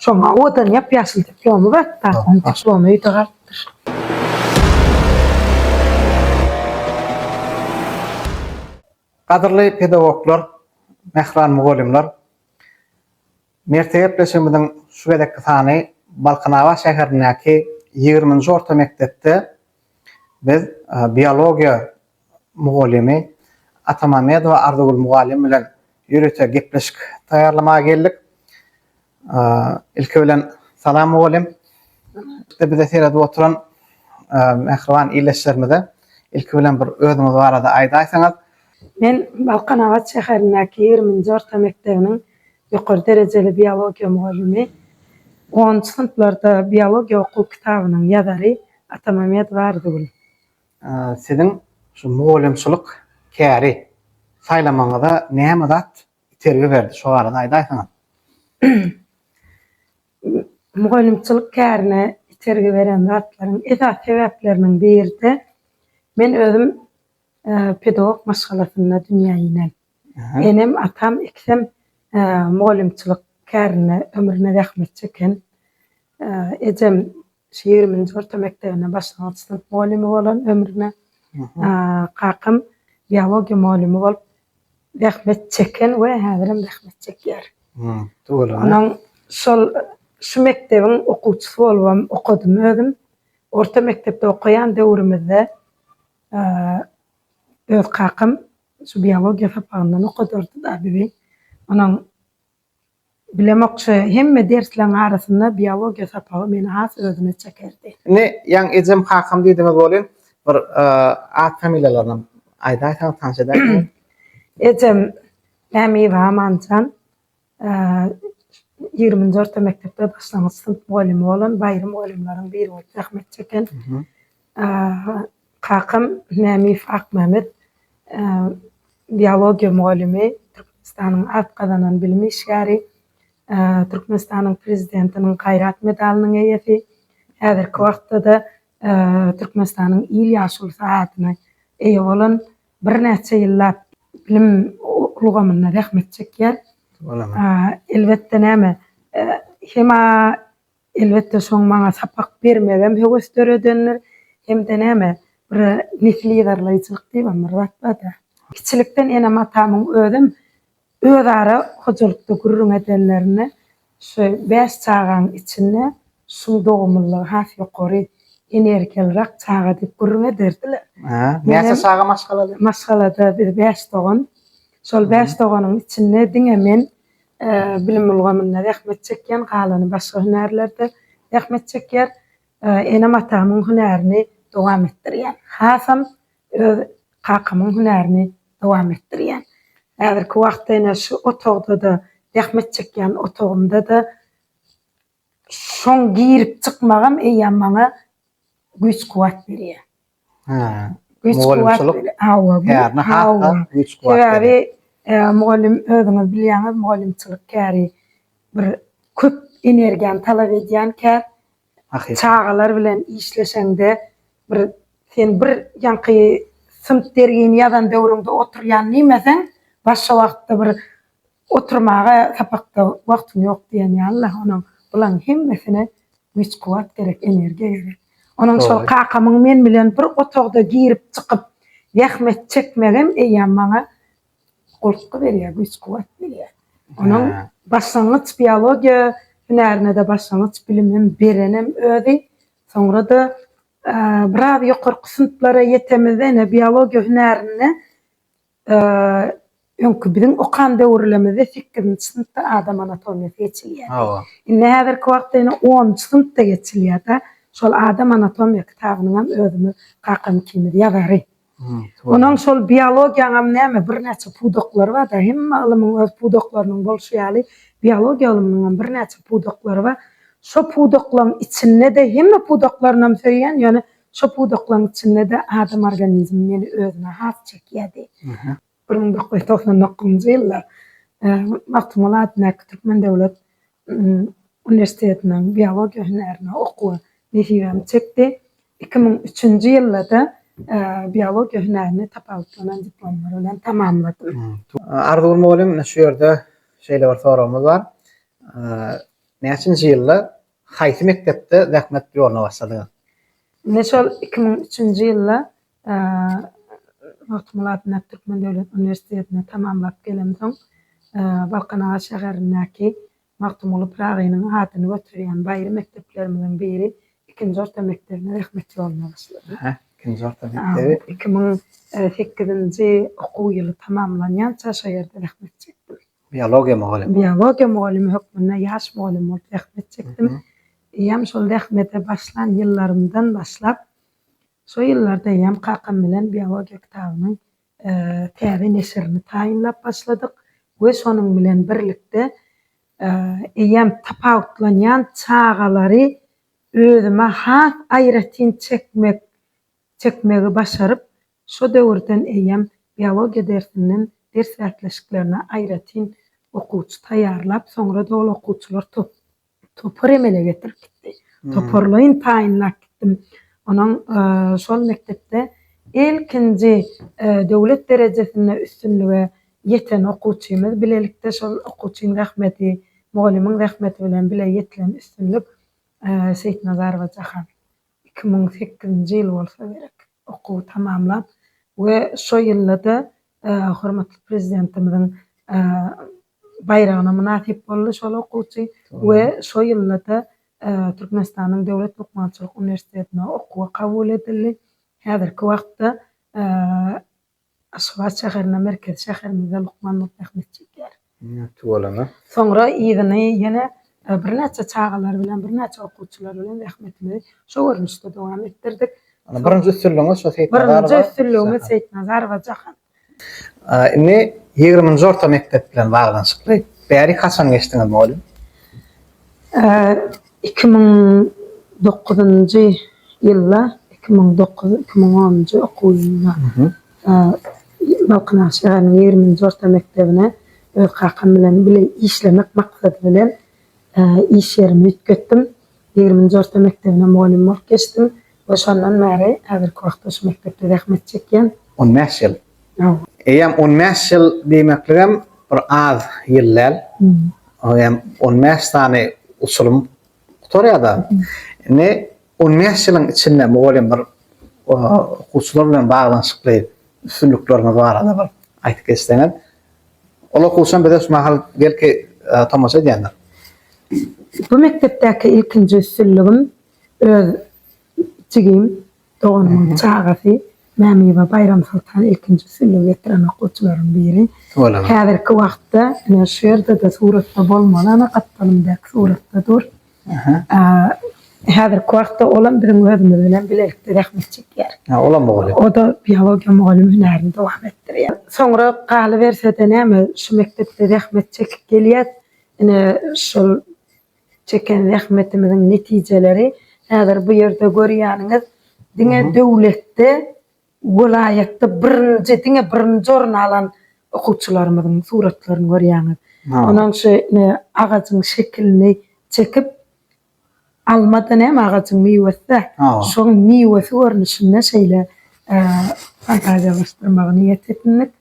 Şoňa odan ýap ýaşyl diplomy bar, taýsyň diplomy öýde galypdyr. Gadyrly pedagoglar, mähran mugallymlar, Mertde gepleşigimiziň şu gezekki sany Balkanabat şäherindäki ýigriminji orta mekdepde biz biologiýa mugallymy Atamämmedowa Arzygül mugallym bilen ýörite gepleşik taýýarlamaga geldik. Ilki bilen salam mugallym. Salam. Bize seredip oturan mähriban ildeşlerimize ilki bilen bir özüňiz barada aýdaýsaňyz. Men Balkanabat şäherindäki ýigriminji orta mekdebiniň Ýokary derejeli biologiýa mugallymy, onunjy synplarda biologiýa okuw kitabynyň ýazary Atamammedowa Arzygül. Siziň şu mugallymçylyk käri saýlamagyňyza näme zat itergi berdi, şo barada aýdaýsaňyz? Mugallymçylyk kärine itergi beren zatlaryň esasy sebäpleriniň biri-de, men özüm pedagog maşgalasynda dünýä inen. Enem, atam ikisem mugallymçylyk kärinde ömrüne zähmet çeken. Ejem şu ýigriminji orta mekdebine başlangyç synp mugallymy bolan ömrüne. Kakam biologiýa mugallymy bolup zähmet çeken we häzirem zähmet çekýär. Onuň şol şu mekdebiň okuwçysy bolubam okadym özüm. Orta mekdepde okaýan döwrümizde öz kakam Şu biologiýa sapagyndan okadardy-da bizi. Onuň bilemokçy hemme dersleriň arasynda biologiýa sapagy meni has özüne çekerdi. Indi ýaň ejem kakam diýdiňiz welin bir at familiýalaryny aýdaýsaňyz tanyş edäýseňiz. Ejem Mämiýewa Amanjan, Ýigriminji orta mekdepde başlangyç synp mugallymy bolan Baýry mugallymlaryň biri bolup zähmet çeken kakam Mämiýew Akmämmet biologiýa mugallymy, Türkmenistanyň at gazanan bilim işgäri, Türkmenistanyň Prezidentiniň Gaýrat medalynyň eýesi, häzirki wagtda-da Türkmenistanyň Il ýaşulysy adyna eýe bolan birnäçe ýyllap bilim ulgamynda zähmet çekýär. Elbetde näme, hem-ä elbetde şoň maňa sapak bermegem höwes döredendir, hem-de näme, bir nesil ýygarlaýjylyk diýibem bir zat bar-da. Kiçilikden enem-atamyň özem Özara hojalykda gürrüň edenlerinde şu bäş çagaň içinde şuň dogumlylygy has ýokary, energiýalyrak çaga diýip gürrüň ederdiler. Näçe çaga maşgalada? Maşgalada biz bäş dogan. Şol bäş doganyň içinde diňe men bilim ulgamynda zähmet çekýän, galany başga hünärlerde zähmet çekýär. Enem-atamyň hünärini dowam etdirýän. Hasam Öz kakamyň hünärini dowam etdirýän. Häzirki wagtda ine şu otagda-da, zähmet çekýän otagymda-da şoň girip çykmagam eýýäm maňa güýç-kuwwat berýär. Hä. Mugallymçylyk kärini has-da güýç-kuwwat berýär. Sebäbi mugallym özüňiz bilýäňiz, mugallymçylyk käri bir köp energiýany talap edýän kär. Çagalar bilen işleşeňde bir sen bir ýaňky synp dergini ýazan döwrüňde oturýan nimeseň başga wagtda bir oturmaga sapakda wagtyň ýok diýen ýalyda onuň bulaň hemmesine güýç kuwwat gerek energiýa gerek onuň şol kakamyň men bilen bir otagda girip çykyp zähmet çekmegem eýýäm maňa Gulpky berýär, güýç-kuwwat berýär. Onuň başlangyç biologiýa hünärine-de başlangyç bilimem berenem özi. Soňra-da biraz ýokarky synplara ýetemizde ine biologiýa hünärinde öňki biziň okan döwürlemizde sekizinji synpda adam anatomiýasy geçilýärdi. Hawa. Indi häzirki wagtda ýene onunjy synpda geçilýär-de. Şol adam anatomiýa kitabynyňam özümiz kakam ikimiz ýazary. Onuň şol biologiýaňam näme birnäçe pudaklary bar-da, hemme ylymyň öz pudaklarynyň bolşy ýaly, biologiýa ylmynyňam birnäçe pudaklary bar. Şo pudaklaryň içinde-de, hemme pudaklarynam söýýän, ýöne şo pudaklaryň içinde-de adam organizmi meni özüne has çekýärdi. Bir müň dokuz ýüz togsan dokuzynjy ýylda Magtymguly adyndaky Türkmen döwlet uniwersitetiniň biologiýa hünärine okuwy nesibämi çekdi. Iki müň üçünji ýylda-da biologiýa hünärini tapawutlanan diplomlar bilen tamamladym. Arzygül mugallym, ine şu ýerde şeýle bir soragymyz bar. Näçinji ýylda, haýsy mekdepde zähmet ýoluna başladyňyz? Ine şol iki müň üçünji ýylda Magtymgulat Mert Türkmen döwlet uniwersitetini tamamlap gelemsoň, Balkanabat şäherindäki Magtymguly Pyragynyň adyny göterýän baýry mekdeplerimiziň biri ikinji orta mekdebine zähmet ýoluna başladym. Ikinji orta mekdebi? Iki müň sekizinji okuw ýyly tamamlanýança şo ýerde zähmet çekdim. Biologiýa mugallymy? Biologiýa mugallymy hökmünde ýaş mugallym bolup zähmet çekdim. Eýýäm şol zähmete başlan ýyllarymdan başlap, Şo ýyllarda eýýäm kakam bilen biologiýa kitabynyň täze neşirini taýynlap başladyk we şonuň bilen birlikde eýýäm tapawutlanýan çagalary özüme has aýratyn çekmek çekmegi başaryp, şo döwürden eýýäm biologiýa dersinden ders bäsleşiklerine aýratyn okuwçy taýýarlap, soňra-da ol okuwçylar top Topar emele getirip gitdi. Toparlaýyn taýynlap gitdim. Onuň şol mekdepde ilkinji döwlet derejesinde üstünlige ýeten okuwçymyz. Bilelikde şol okuwçyň zähmeti, mugallymyň zähmeti bilen bile ýetilen üstünlik. Seýitnazarowa Jahan iki müň sekizinji ýyl bolsa gerek okuwy tamamlap we şo ýylda-da hormatly Prezidentimiziň Baýragyna mynasyp boldy şol okuwçy we şo ýylda-da Türkmenistanyň Döwlet lukmançylyk uniwersitetine okuwa kabul edildi. Häzirki wagtda Aşgabat şäherinde, merkezi şäherimizde lukmanlyk zähmet çekýär. Tuwalaňa. Soňra yzyny ýene birnäçe çagalar bilen, birnäçe okuwçylar bilen zähmetimizi şu görnüşde dowam etdirdik. Indi birinji üstünligiňiz şu Seýitnazarowa. Birinji üstünligimiz Seýitnazarowa Jahan. Indi ýigriminji orta mekdep bilen baglanyşykly. Bäri haçan geçdiňiz mugallym? Iki müň dokuzynjy ýylda, iki müň dokuz, iki müň onunjy okuw ýylynda. Balkanabat şäheriniň ýigrimi nji orta mekdebine öz kakam bilen bile işlemek maksady bilen iş ýerimi üýtgetdim. Ýigrimi nji orta mekdebine mugallym bolup geçdim we şondan bäri häzirki wagtda şu mekdepde zähmet çekýän. On bäş ýyl. Hawa. Eýýäm on bäş ýyl diýmekligem bir az ýyl däl. Eýýäm on bäş sany usulym Gutarýar-da. Indi on bäş ýylyň içinde mugallym bir okuwçylar bilen baglanyşykly üstünlikleriňiz barada bir aýdyp geçseňiz. Ol okuwçam bize şu mahal belki tomaşa edýändir. Bu mekdepdäki ilkinji üstünligim öz jigim Doganymyň çagasy Mämiwa Baýramsoltan ilkinji sülle getiren okuwçylaryň biri. Häzirki wagtda ine şu ýerde-de suratda bolmaly, ana gapdalymdaky suratda dur. Häzirki wagtda olam biziň özümiz bilen bilelikde zähmet çekýär. Olam mugallym. O-da biologiýa mugallymy hünärini dowam etdirýär. Soňra galyberse-de näme, şu mekdepde zähmet çekip gelýäs. Ine şol. Çeken zähmetimiziň netijeleri häzir bu ýerde görýäniňiz. Diňe döwletde, welaýatda birinji, diňe birinji orun alan okuwçylarymyzyň suratlaryny görýäňiz. Onuň şu agajyň şekilini çekip, alma-da näme, agajyň miwesi-dä. Şoň miwesi görnüşinde şeýle fantaziýalaşdyrmagy niýet edindik.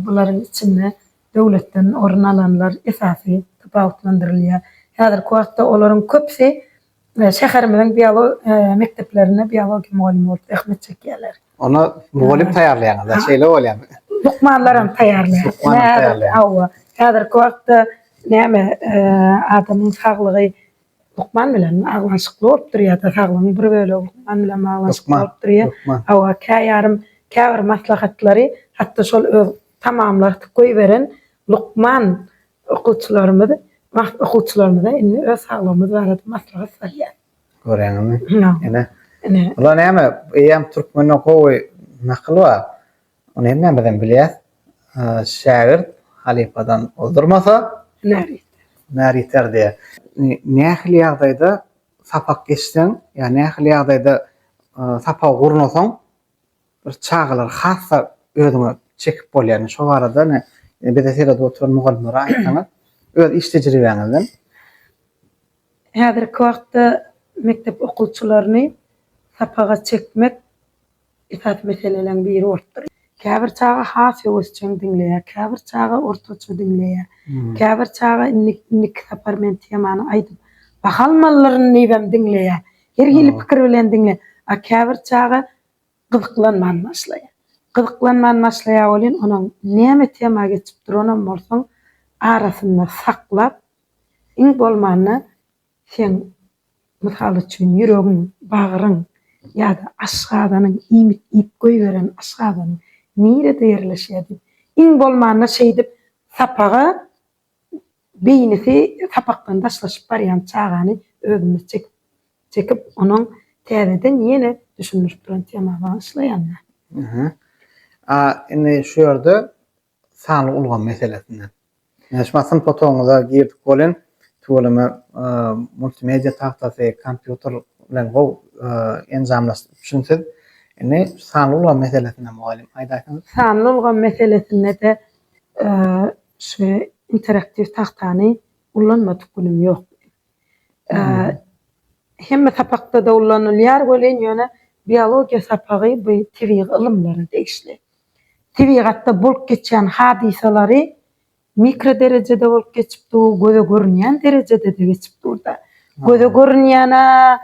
Bularyň içinde. Döwletden orun alanlar esasy tapawutlandyrylýar. Häzirki wagtda olaryň köpüsi şäherimiziň biologiýa mekdeplerinde biologiýa mugallymy bolup zähmet çekýärler. Onda mugallym taýýarlaýaňyz-da, şeýle bolýarmy? Lukmanlar hem taýýarlaýarys. Lukman hem taýýarlaýaňyz. Hawa. Häzirki wagtda näme, adamyň saglygy lukman bilen baglanyşykly bolup durýar-da, saglygyň bir bölegi lukman bilen baglanyşykly bolup durýar. Lukman, lukman. Hawa, käýarym käbir maslahatlary hatda şol öz tamamlarsyk goýberen lukman okuwçylarymyz wagt okuwçylarymyza indi öz saglygymyz barada maslahat salýar. Görýäňizmi? Ynha. Ine. Ine. Bula näme? Eýýäm türkmende gowy nakyl bar. Ony hemmämiz hem bilýäs. Şägirt halypadan ozdurmasa, hünär ýeter. Hünär ýeter diýýär. Nähili ýagdaýda sapak geçseň, ýa nähili ýagdaýda sapagy gurnasaň, bir çagalar hasda özüňe çekip bolýar şo barada ine bize seredip oturan mugallymlara aýtsaňyz öz iş tejribäňizden. Häzirki wagtda mekdep okuwçylaryny sapaga çekmek esasy meseleleň biri bolupdyr. Käbir çaga has höwesjeň diňleýär, käbir çaga ortaça diňleýär, käbir çaga indi indiki sapar men temany aýdyp bahalmalylaryn diýibem diňleýär, her hili pikir bilen diňleýär, a käbir çaga Gyzyklanman başlaýa. Gyzyklanman başlaýa welin onuň näme tema geçip duranam bolsaň arasynda saklap iň bolmanda seň mysal üçin ýüregiň, bagryň ýa-da aşgazanyň iýmit iýip goýberen aşgazanyň nirede ýerleşýär diýip iň bolmanda şeýdip sapaga Beýnisi sapakdan daşlaşyp barýan çagany özüne çekip çekip onuň täzeden ýene düşündirip duran tema bagyşlaýanda. Aha. A indi şu ýerde sanly ulgam meselesinde. Ýöne şu synp otagyňyza girdik welin tüweleme multimedia tagtasy, kompýuter bilen gowy enjamlaşdyryp üçin siz indi sanly ulgam meselesinde mugallym aýdaýsaňyz. Sanly ulgam meselesinde-de Şu interaktiw tagtany ullanmadyk günüm ýok. Hemme sapakda-da ullanylýar welin, ýöne biologiýa sapagy bu tebigy ylymlara degişli. Tebigatda bolup geçýän hadysalary mikro derejede bolup geçip dur, göze görünýän derejede-de geçip dur-da. Göze görünýän-ä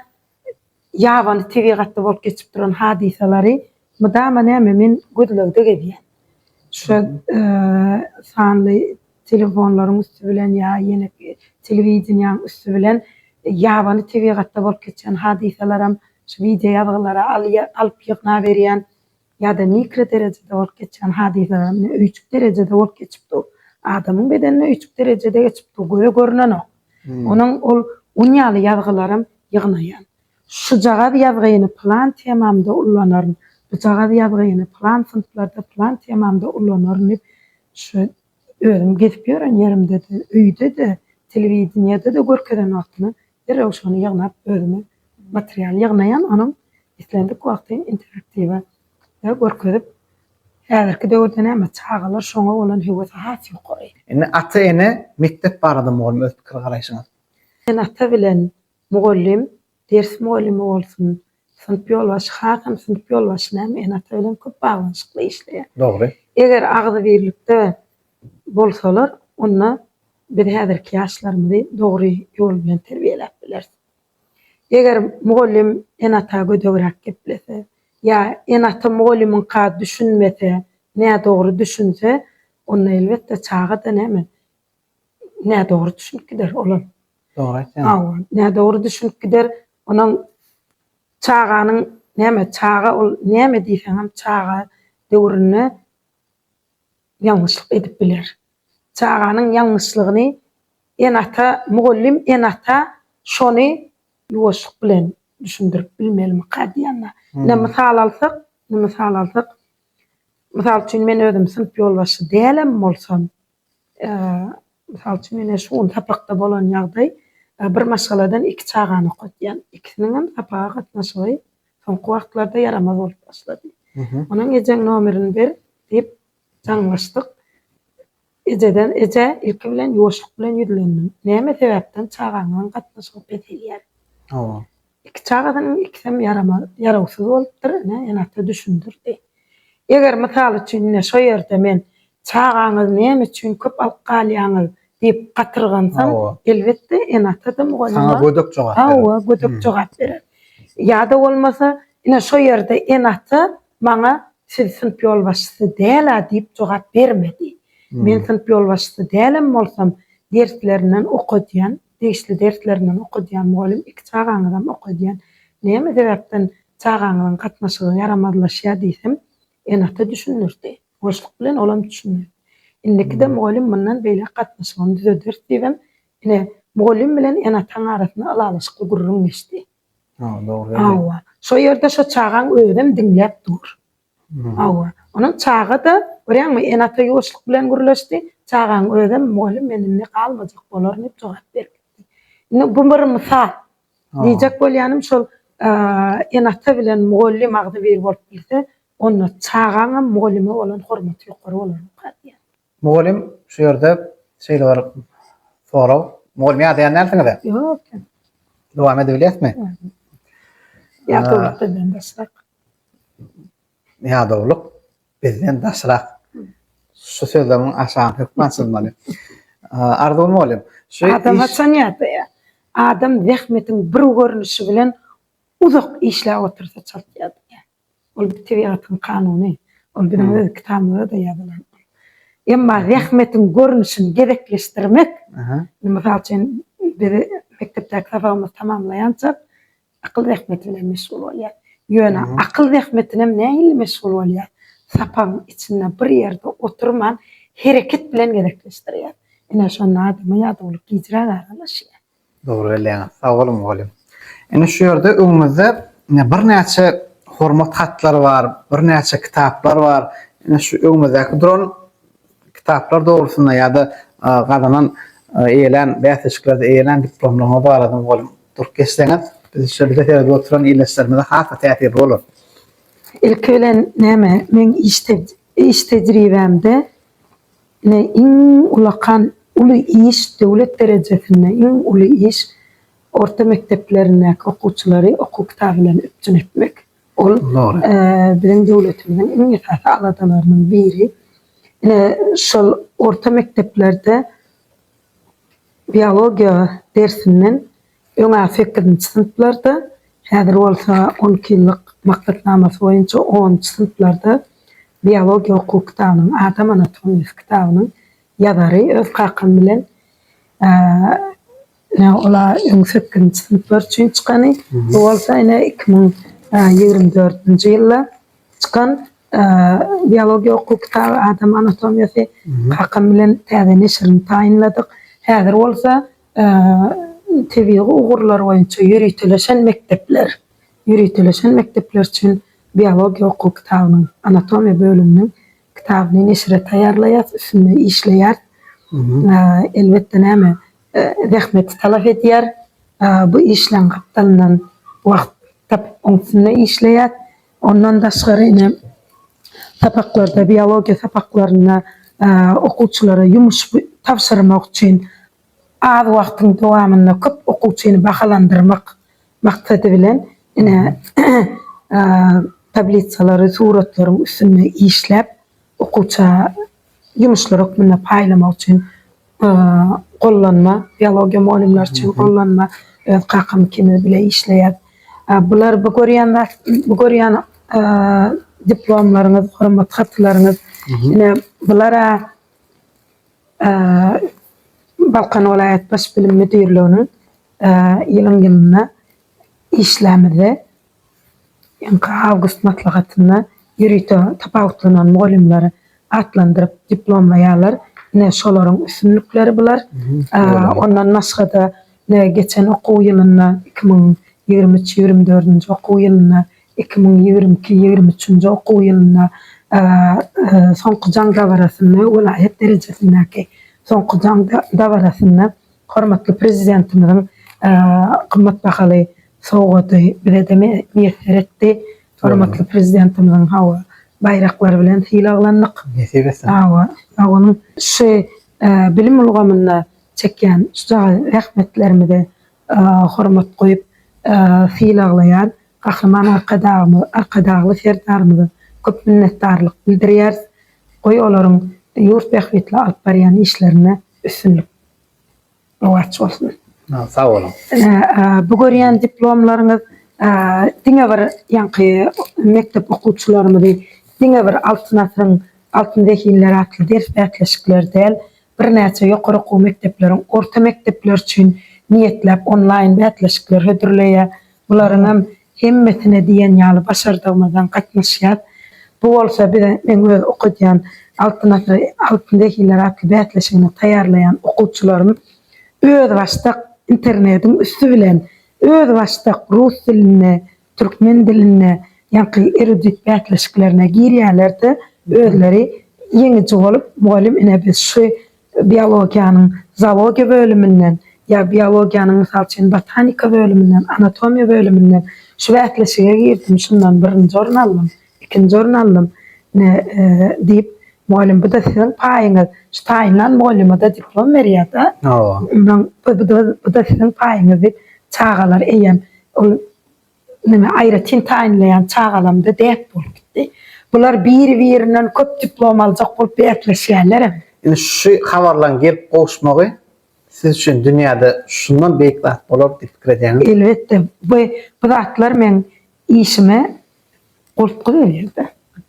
ýabany tebigatda bolup geçip duran hadysalary mydama näme men gözlegde gezýän. Şo sanly telefonlaryň üsti bilen ýa ýene telewideniýäň üsti bilen ýabany tebigatda bolup geçen hadysalaram şu wideo ýazgylary alyp ýygnaberýän. ýa-da mikro derejede bolup geçýän hadysalar ine öýjük derejede bolup geçip dur. Adamyň bedenine öýjük derejede geçip dur, göze görnenok. Onuň ol un ýaly ýazgylaram ýygnaýan. Şujagaz ýazgyny pylan temamda ullanaryn, bujagaz ýazgyny pylan synplarda, pylan temamda ullanaryn diýip, şu özüm gezip ýören ýerimde-de, öýde-de, telewideniýede-de görkezen wagtymam Derrew şony ýygnap özümi material ýygnaýan onuň islendik wagty interaktiwa da görkezip häzirki döwürde näme çagalar şoňa bolan höwesi has ýokary. Indi ata ene mekdep barada mugallym öz pikir garaýşyňyz. Sen ata bilen mugallym ders mugallymy bolsun Synp ýolbaşçy hasam synp ýolbaşçy näme ene-ata bilen köp baglanyşykly işleýär. Dogry. Eger agzybirlikde bolsalar, onda biz häzirki ýaşlarymyzy dogry ýol bilen terbiýeläp bileris. Eger mugallym ene-ata gödegräk geplese ýa ene-ata mugallymyňka düşünmese, nädogry düşünse, onda elbetde çaga-da näme, nädogry düşünip gider, olam Dogry aýtýaň. Hawa, nädogry düşünip gider. Onuň çaganyň näme çaga ol näme diýseňem çaga döwründe ýalňyşlyk edip biler. Çaganyň ýalňyşlygyny ene-ata, mugallym ene-ata şony ýuwaşlyk bilen düşündirip bilmelimika diýende. Ine mysal alsak, ine mysal alsak, mysal üçin men özüm synp ýolbaşçy dälem bolsam, Mysal üçin, mine şu gün sapakda bolan ýagdaý, bir maşgaladan iki çagany okatýan. Ikisiniň hem sapaga gatnaşygy soňky wagtlarda ýaramaz bolup başlady. Onuň ejeň nomerini ber diýip jaňlaşdyk. Ejeden, eje, ilki bilen ýuwaşlyk bilen ýüzlendim. Näme sebäpden çagaňyzyň gatnaşygy peselýär? Hawa. Iki çagasynyň ikisem ýaramaz, ýarawsyz bolupdyr, ine, ene-ata düşündirdi. Eger, mysal üçin, ine, şo ýerde men, Çagaňyzy näme üçin köp alyp galýaňyz? diýip gatyrgansam, Hawa. elbetde, ene-ata-da, mugallym-a. Saňa gödek jogap berer. Hawa, gödek jogap berer. Ýa-da bolmasa, ine, şo ýerde ene-ata maňa, Siz synp ýolbaşçysy däl-ä diýip jogap bermedi. Men synp ýolbaşçysy dälem bolsam, derslerinden okadýan, Degişli dersleri men okadýan mugallym iki çagaňyzam okadýan. Näme sebäpden çagaňyzyň gatnaşygy ýaramazlaşýar diýsem, ene-ata düşündirdi. Boşluk bilen olam düşündi. Indikide mugallym mundan beýläk gatnaşygyny düzederis diýibem, ine, mugallym bilen ene-ataň arasynda ylalaşykly gürrüň geçdi. Hawa, şo ýerde şo çagaň özem diňläp dur. Hawa, onuň çaga-da, görýäňmi, ene-ata ýuwaşlyk bilen gürleşdi, çagaň özem, Mugallym, men indi galmajak bolaryn diýip jogap berip gitdi. Indi bu bir mysal. Diýjek bolýanym şol, ene-ata bilen mugallym agzybir bolup bilse, onda çagaňam mugallyma bolan hormaty ýokary bolarmyka diýýän. Mugallym şu ýerde şeýle bir sorag. Mugallym ýazýan dälsiňiz-ä? Ýok. Dowam edebilýäsmi? Ýadawlyk bizden daşrak. Ýadawlyk bizden daşrak. Şu sözlemiň aşagyny hökman açylmaly. Arzuw mugallym, şu Adam haçan ýadaýar? Adam zähmetiň bir görnüşi bilen uzak işläp otursa çalt ýadaýar. Ol bir tebigatyň kanuny. Ol biziň öz kitabymyzda-da ýazylan. Emma zähmetiň görnüşini gezekleşdirmek, indi mysal üçin, biz mekdepdäki sapagymyzy tamamlaýançak akyl zähmeti bilen meşgul bolýarys. Ýöne akyl zähmetinem nähili meşgul bolýarys? Sapagyň içinde bir ýerde oturman, hereket bilen gezekleşdirýäris. Ine, şonda adama ýadawlyk gijräk aralaşýar. Dogry belleýäňiz. Sag boluň mugallym. Ine şu ýerde öňümizde birnäçe hormat hatlary bar, birnäçe kitaplar bar. Ine şu öňümizdäki duran kitaplar dogrusynda ýa-da gazanan eýelän bäsleşiklerde eýelän diplomlaryňyz barada mugallym durup geçseňiz biz şol bize seredip oturan ildeşlerimize has-da täsirli bolar. Ilki bilen näme, meň iş tejribämde Ine, iň ulakan uly iş döwlet derejesinde iň uly iş orta mekdeplerindäki okuwçylary okuw kitaby bilen üpjün etmek. Ol biziň döwletimiziň iň esasy aladalarynyň biri. Ine, şol orta mekdeplerde biologiýa dersinden Öňa sekizinji synplarda, häzir bolsa on iki ýyllyk maksatnamasy boýunça onunjy synplarda biologiýa okuw kitabynyň, adam anatomiýasy kitabynyň ýazary öz kakam bilen ine ola öň sekizinji synplar üçin çykany, bu bolsa ine iki müň ýigrimi dördünji ýylda çykan biologiýa okuw kitaby, adam anatomiýasy kakam bilen täze neşirini taýynladyk. Häzir bolsa Tebigy ugurlar boýunça ýöriteleşen mekdepler ýöriteleşen mekdepler üçin biologiýa okuw kitabynyň, anatomiýa bölüminiň kitabyny neşire taýýarlaýarys, üstünde işleýäris. Elbetde, näme, zähmeti talap edýär. Bu işleň gapdalyndan wagt tapyp, oň üstünde işleýäris. Ondan daşgary ine, sapaklarda, biologiýa sapaklarynda okuwçylara ýumuş tabşyrmak üçin az wagtyň dowamynda köp okuwçyny bahalandyrmak maksady bilen, ine, tablisalary suratlaryň üstünde işläp, okuwça ýumuşlar hökmünde paýlamak üçin gollanma, biologiýa mugallymlary üçin gollanma, öz kakamykyny bile işleýär. Bular bu görýän zat, bu görýän diplomlaryňyz, hormat hatlaryňyz, ine bular-a Balkan welaýat Baş bilim müdirliginiň ýylyň-ýylyna işlämizde Ýylyňky awgust maslahatynda ýörite tapawutlanan mugallymlary atlandyryp diplomlaýarlar. Ine, şolaryň üstünlikleri bular. Ondan başga-da, ine, geçen okuw ýylynda, iki müň ýigrimi üç, ýigrimi dördünji okuw ýylynda, iki müň ýigrimi iki, ýigrimi üçünji okuw ýylynda soňky jaň dabarasynda, welaýat derejesindäki soňky jaň dabarasynda Hormatly Prezidentimiziň gymmat bahaly sowgady bize-de miýesser etdi. Hormatly Prezidentimiziň hawa, baýraklary bilen sylaglandyk. Nesip etsin. Hawa, sag boluň. Şu bilim ulgamynda çekýän şujagaz zähmetlerimize hormat goýup sylaglaýan Gahryman Arkadagymyz, Arkadagly Serdarymyza köp minnetdarlyk bildirýäris. Goý olaryň ýurt bähbitli alyp barýan işlerinde üstünlik. Rowaç bolsun. Sag boluň. Bu görýän diplomlaryňyz diňe bir ýaňky mekdep okuwçylarymyzy diňe bir Altyn asyryň altyn zehinleri atly ders bäsleşikleri däl, birnäçe ýokary okuw mekdepleriň orta mekdepleri üçin niýetläp onlaýn bäsleşikler hödürleýär. Bularyňam hemmesine diýen ýaly başardygymyzdan gatnaşýas. Bu bolsa bize meň öz okadýan Altyn asyr, altyn zehinler atly bäsleşigine taýýarlaýan okuwçylarym özbaşdak internetiň üsti bilen özbaşdak rus dilinde, türkmen dilinde ýaňky erudit bäsleşiklerine girýärler-de, özleri ýeňiji bolup mugallym ine biz şu biologiýanyň zoologiýa bölüminden ýa biologiýanyň, mysal üçin, botanika bölüminden, anatomiýa bölüminden şu bäsleşige girdim, şundan birinji orun aldym, ikinji orun aldym diýip, mugallym bu-da siziň paýyňyz, şu taýynlan mugallymada diplom berýär-de, bu-da siziň paýyňyz diýip, çagalar eýýäm ol. Meni aýratyn taýynlaýan çagalamda däp bolup gitdi. Bular biri-birinden köp diplom aljak bolup bäsleşýärlerem. Indi şu habarlaryň gelip gowuşmagy siz üçin dünýäde şundan beýik zat bolar diýip pikir edýäňizmi? Elbetde. Bu zatlar meň işime goltgy berýär-de.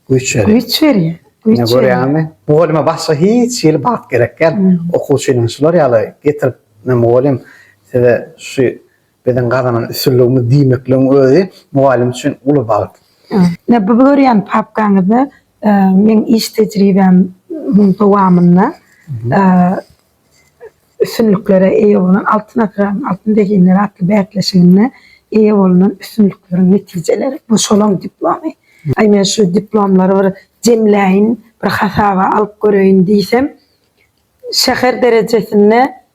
Güýç berýär. Güýç berýär. Ine, görýäňizmi? Mugallima başga hiç hili bagt gerek däl. Okuwçynyň şular ýaly getirip, Mugallym, size şu Biziň gazanan üstünligimiz diýmekligiň özi mugallym üçin uly bagt. Ine, bu görýän papkaňyzda meň iş tejribämiň dowamynda üstünliklere eýe bolan Altyn asyryň altyn zehinleri atly bäsleşiginde eýe bolnan üstünlikleriň netijeleri, bu şolaň diplomy. Aý, men şu diplomlary bir jemläýin, bir hasaba alyp göreýin diýsem, şäher derejesinde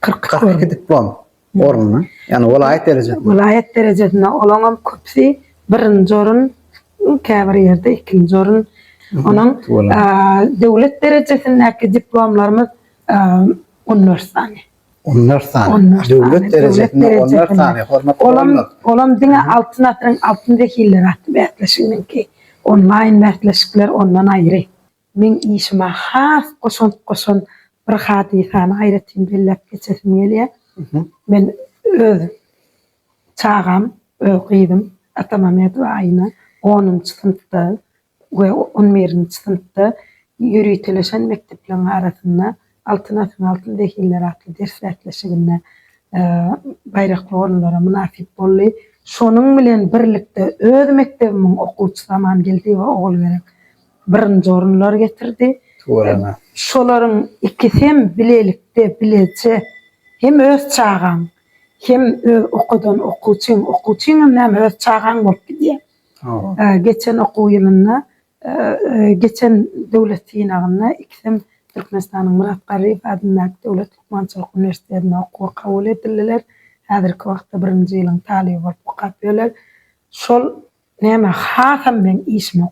Kyrk iki Kyrk iki diplom ornuny, ýagny welaýat derejesinde. Welaýat derejesinde olaň hem köpüsi birinji orun, käbir ýerde ikinji orun. Onuň döwlet derejesindäki diplomlarymyz on dört sany. On dört sany. Döwlet derejesinde on dört sany. Hormatly Olam, olam diňe Altyn asyryň altyn wekilleri atly bäsleşiginiňki. Onlaýn bäsleşikler ondan aýry. Meň işime has goşant goşan bir hadysany aýratyn belläp geçesim gelýär. Men öz çagam, öz gyzym Atamämedowa Aýna onunjy synpda we on birinji synpda ýöriteleşen mekdepleriň arasynda Altyn asyň altyn zehinleri atly ders bäsleşiginde baýrakly orunlara mynasyp boldy. Şonuň bilen birlikde öz mekdebimiň okuwçysy Amangeldiýewa Ogulgerek birinji orunlary getirdi. Şolaryň ikisi hem bilelikde, bileje hem öz çagaň, hem öz okadan okuwçyň, okuwçyň hem näme öz çagaň bolup gidýär. Geçen okuw ýylynda Geçen döwlet synagynda ikisem Türkmenistanyň Myrat Garryýew adyndaky döwlet lukmançylyk uniwersitetine okuwa kabul edildiler. Häzirki wagtda birinji ýylyň talyby bolup okapýörler. Şol nämä hasam meň işime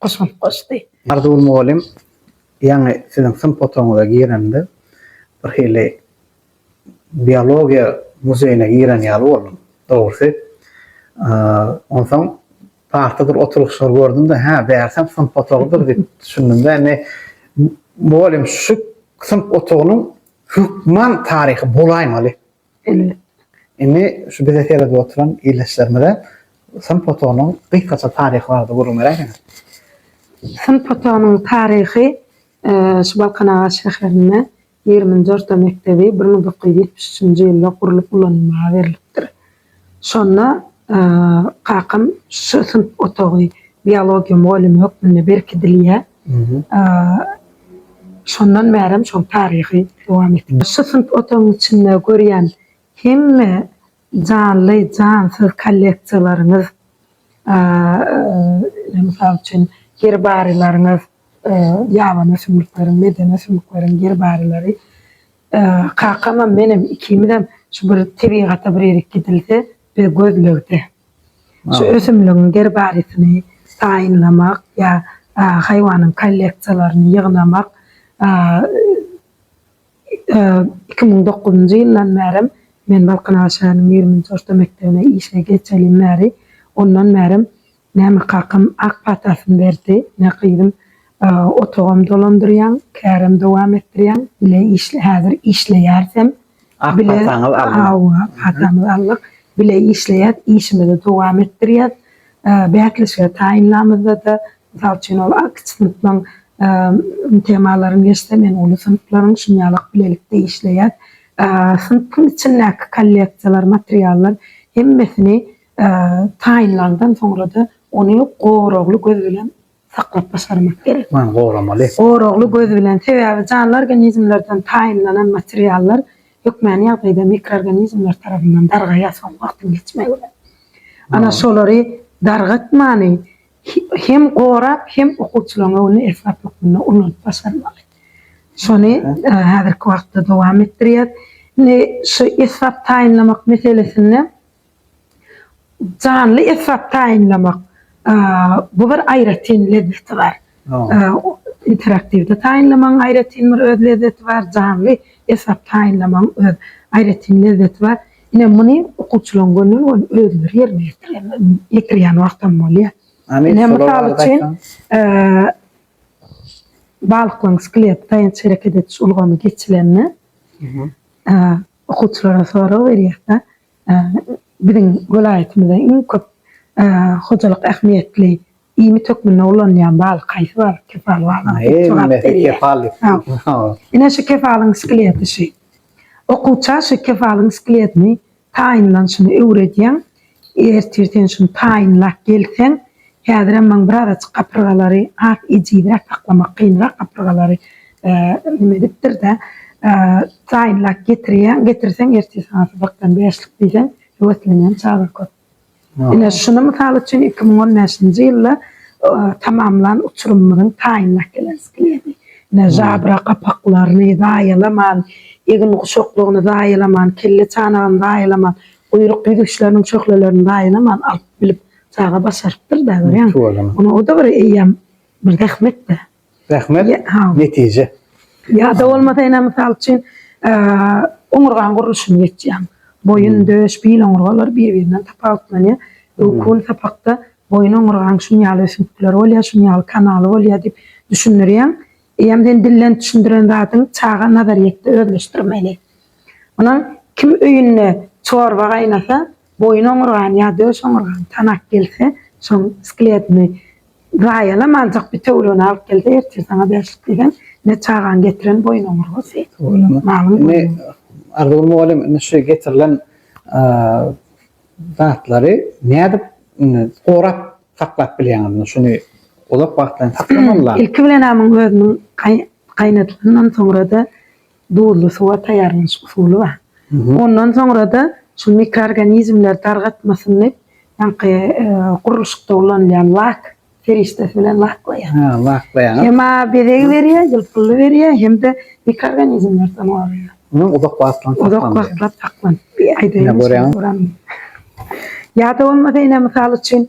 goşant goşdy. Arzuw mugallym ýaňy siziň synp otagyňyza giremde bir hili biologiýa muzeýine giren ýaly boldum. Dogrusy, onsoň Parta bir oturyşlar gördüm-de, hä, bärsem synp otagydyr diýip düşündim-de, indi mugallym şu synp otagynyň hökman taryhy bolaýmaly. Elbetde. Indi şu bize seredip oturan ildeşlerimize synp otagynyň gysgaça taryhy barada gürrüň beräýseňiz. Synp otagynyň taryhy şu Balkanabat şäherinde Ýigriminji orta mekdebi bir müň dokuz ýüz ýetmiş üçünji ýylda gurlup ulanylmaga berlipdir. Şonda kakam şu synp otagy biologiýa mugallymy hökmünde berkidilýär. Şondan bärem şoň taryhy dowam edip. Şu synp otagyň içinde görýän hemme Janly, jansyz kolleksiýalaryňyz, mysal üçin, gerbariýlaryňyz, ýabany ösümlikleriň, medeni ösümlikleriň gerbarilary, kakamam, menem, ikimizem şu bir tebigata bir erik gidilse, biz gözlegde. Şu ösümligiň gerbariýasyny taýynlamak ýa haýwanyň kolleksiýalaryny ýygnamak, Iki müň dokuzynjy ýyldan bärem men Balkanabat şäheriniň ýigriminji orta mekdebine işe geçelim bäri, ondan bärem näme kakam ak patasyny berdi, ne gyzym otagam dolandyrýaň, kärem dowam etdirýäň, bile işle, häzir işleýärisem, Ak pataňyz alnyk. Hawa, patamyz alnyk, bile işleýäs, işimizi dowam etdirýäs. Bäsleşige taýynlamyzda-da, mysal üçin, ol kiçi synpyň temalaryny geçse, men uly synplaryň şuny ýalak bilelikde işleýäs. Synpyň içindäki kolleksiýalar, materiallar hemmesini taýynlandan soňra-da, ony goragly göz bilen saklap başarmak gerek. Ony goramaly. Goragly göz bilen, sebäbi janly organizmlerden taýynlanan materiallar hökmany ýagdaýda mikroorganizmler tarapyndan dargaýar soň wagtyň geçmegi bilen. Ana şolary dargatmany hem gorap, hem okuwçylaryň öňünde esbap hökmünde ulanyp başarmaly. Şony häzirki wagtda dowam etdirýär. Indi şu esbap taýynlamak meselesinde Janly esbap taýynlamak, bu bir aýratyn lezzeti bar. Interaktiwde taýynlamagyň aýratyn bir öz lezzeti bar, janly esbap taýynlamagyň öz aýratyn lezzeti bar. Ine, muny okuwçylaryň gönüden-göni özleri ýerine ýetirýärler, ýetirýän wagtam bolýar. Ine, mysal üçin, balyklaryň skeleti taýýanç hereket ediş ulgamy geçilende, okuwçylara sorag berýäs-de, Biziň welaýatymyzda iň köp hojalyk ähmiýetli iýmit hökmünde ulanylýan balyk haýsy balyk? Kepal balygy. Ine şu kepalyň skeleti şu. Okuwça şu kepalyň skeletini taýynlanyşyny öwredýäň. Ertir sen şuny taýynlap gelseň, Häzirem maň bir azajyk gapyrgalary has ejizräk saklamak kynrak gapyrgalary neme edipdirde taýynlap getirýän getirseň ertir saňa sypakdan bäşlik diýseň höweslenýän çaga köp. Ine şuny mysal üçin iki müň on bäşinji ýylda tamamlan uçurymymyzyň taýynlap gelen skeleti. Ine žabra gapaklaryny zaýalaman egin guşaklygyny zaýalaman kelle çanagyny zaýalaman guýruk ýüzüşleriniň şöhlelerini zaýalaman alyp bilip Çaga başarypdyr da görýäňmi? Şu bolany. Ony o-da bir eýýäm bir zähmet-de. Zähmet, Ýa- ha. netije. Ýa-da bolmasa ene mysal üçin eee, oňurgaň gurluşyny geçýäň. Boýun, döş, bil oňurgalary bir-birinden tapawutlanýar. Öwkün sapakda boýun oňurgaň şuny ýaly ösüntgileri bolýar, şuny ýaly kanaly bolýar diýip düşündirýäň. Eýýäm sen dilden düşündiren zadyň çaga nazaryýetde özleşdirmeli. Onuň kim öýünde çorba gaýnasa, Boýun oňurgan ýa döş oňurgan tanak gelse, şoň skletini zaýalamanjak bitewüligini alyp gelse, ertir saňa bäşlik diýseň, ine çagaň getiren boýun oňurgasy. Malyň boýun oňurgasy. Arzuw mugallym, indi şu getirilen zatlary nädip gorap saklap bilýäňiz? Şuny uzak wagtlaýyn saklamalylar. Ilki bilen-ä muň özümiň gaýnadylandan soňra-da Duzly suwa taýýarlanyş usuly bar. Ondan soňra-da şu mikroorganizmler dargatmasyny ýaňky gurluşykda ulanylýan lak serişdesi bilen laklaýar. Hä, laklaýar. Hem bezeg berýär, ýylpylly berýär, hem-de mikroorganizmlerden goraýar. Onuň uzak wagtlap saklanylýar. Uzak wagtlap saklanyp aýdaýyn. Ýa-da bolmasa ine, mysal üçin,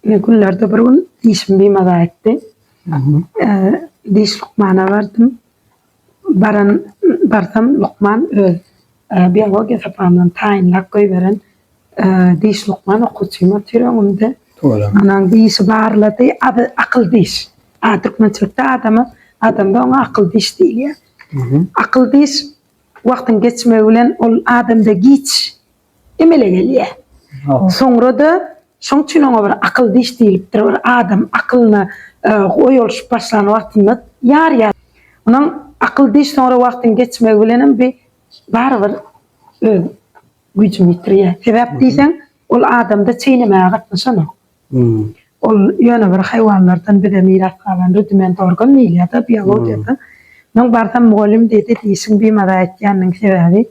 Ine günlerde bir gün dişim bimaza etdi. Diş lukmana bardym. Baran barsam lukman öz biologiýa sapamdan taýynlap goýberen diş lukman okuwçym otyr öňümde. Anan dişi barlady. Ady akyl diş. A türkmençilikde adama adamda oňa akyl diş diýilýär. Akyl diş wagtyň geçmegi bilen ol adamda giç emele gelýär. Soňra-da şoň üçin oňa bir akyl diş diýlipdir, bir adam akylyna oý olşup başlan wagtynda ýarýar. Onuň akyl diş soňra wagtyň geçmegi bilenem bi barybir öz güýjüni ýitirýär. Sebäp diýseň, ol adamda çeýnemäge gatnaşanok. Ol ýöne bir haýwanlardan bize miras galan rudiment organ diýilýär-de biologiýada. Munuň barsam mugallym diýdi, dişiň bimaza etýäniniň sebäbi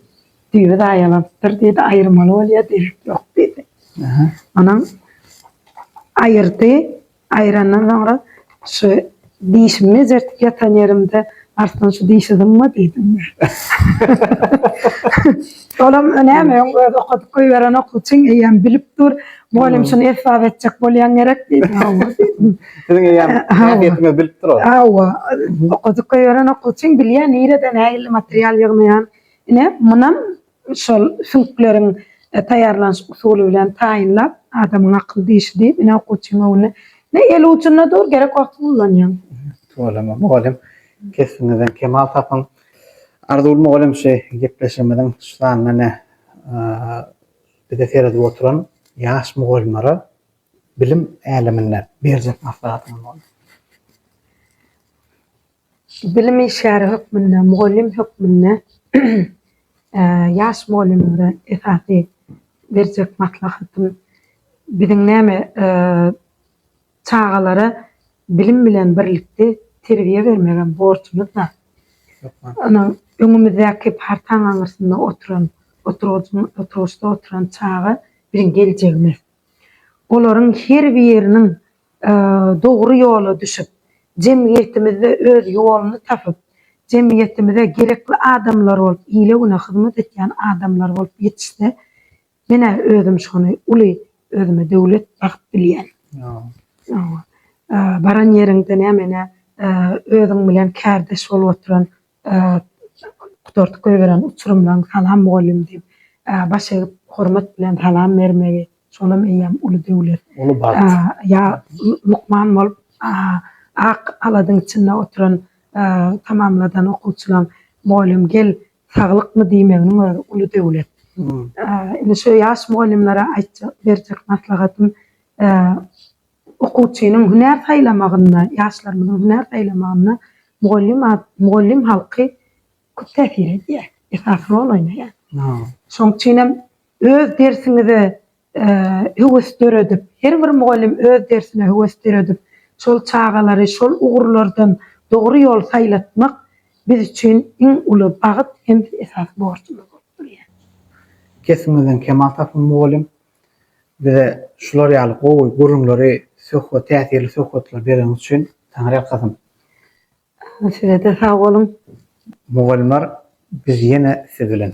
Düýbi zaýalanypdyr diýdi, aýyrmaly bolýar, derek ýok diýdi. Onam aýyrdy, aýrandan soňra şu dişimi mejertip ýatan ýerimde Arslan şu dişi zyňma diýdim men. Olam näme öň özi okadyp goýberen okuwçyň eýýäm bilip dur, mugallym şuny esbap etjek bolýaň gerek diýdi. Hawa diýdim. Siziň eýýäm häsiýetiňizi bilipdir ol. Hawa, okadyp goýberen okuwçyň bilýär nireden nähili material ýygnaýan, Ine, munam şol süňkleriň taýýarlanyş usuly bilen taýynlap, adamyň akyl dişi diýip, ine, okuwçyň öňünde, ine, el ujunda dur, gerek wagty gullanýaň. Tüweleme, mugallym, kesbiňizden kemal tapyň. Arzygül mugallym şu gepleşigimiziň şu sanyna, ine, bize seredip oturan ýaş mugallymlara bilim äleminde berjek maslahatyňyz bolsa? Bilim işgäri hökmünde, mugallym hökmünde ýaş mugallymlara esasy berjek maslahatym, biziň näme çagalara bilim bilen birlikde terbiýe bermegem borjumyzda. Ynha, öňümizdäki partaň aňyrsynda oturan, oturgyçda oturan çaga biziň geljegimiz. Olaryň her biriniň dogry ýola düşüp, jemgyýetimizde öz ýoluny tapyp, jemgyýetimize gerekli adamlar bolup, ile-güne hyzmat etýän adamlar bolup ýetişse, menä özüm şony uly özüme döwlet sahyp bilýän. Baran ýeriňde näme-ne özüň bilen kärdeş bolup oturan Gutardyp goýberen uçurymlaň salam mugallym diýip baş egip hormat bilen salam bermegi şolam eýýäm uly döwlet. Uly bagt. Ýa lukman bolup ak aladyň içinde oturan tamamladan okuwçylaň mugallym gel saglykmy diýmeginiň özi uly döwlet. Indi şu ýaş mugallymlara aýtjak berjek maslahatym Okuwçynyň hünär saýlamagynda, ýaşlarymyzyň hünär saýlamagynda mugallym ad, mugallym halky köp täsir edýär, esasy rol oýnaýar. Şoň üçin hem öz dersiňize höwes döredip, her bir mugallym öz dersine höwes döredip, şol çagalary şol ugurlardan dogry ýol saýlatmak biz üçin iň uly bagt hem-de esasy borjumyz bolup durýar. Kesbiňizden kemal tapyň, mugallym! Bize şular ýaly gowy gürrüňleri söhbet täsirli söhbetleri bereňiz üçin Taňryýalkasyn. Sizede sag boluň. Mugallymlar biz ýene siz bilen.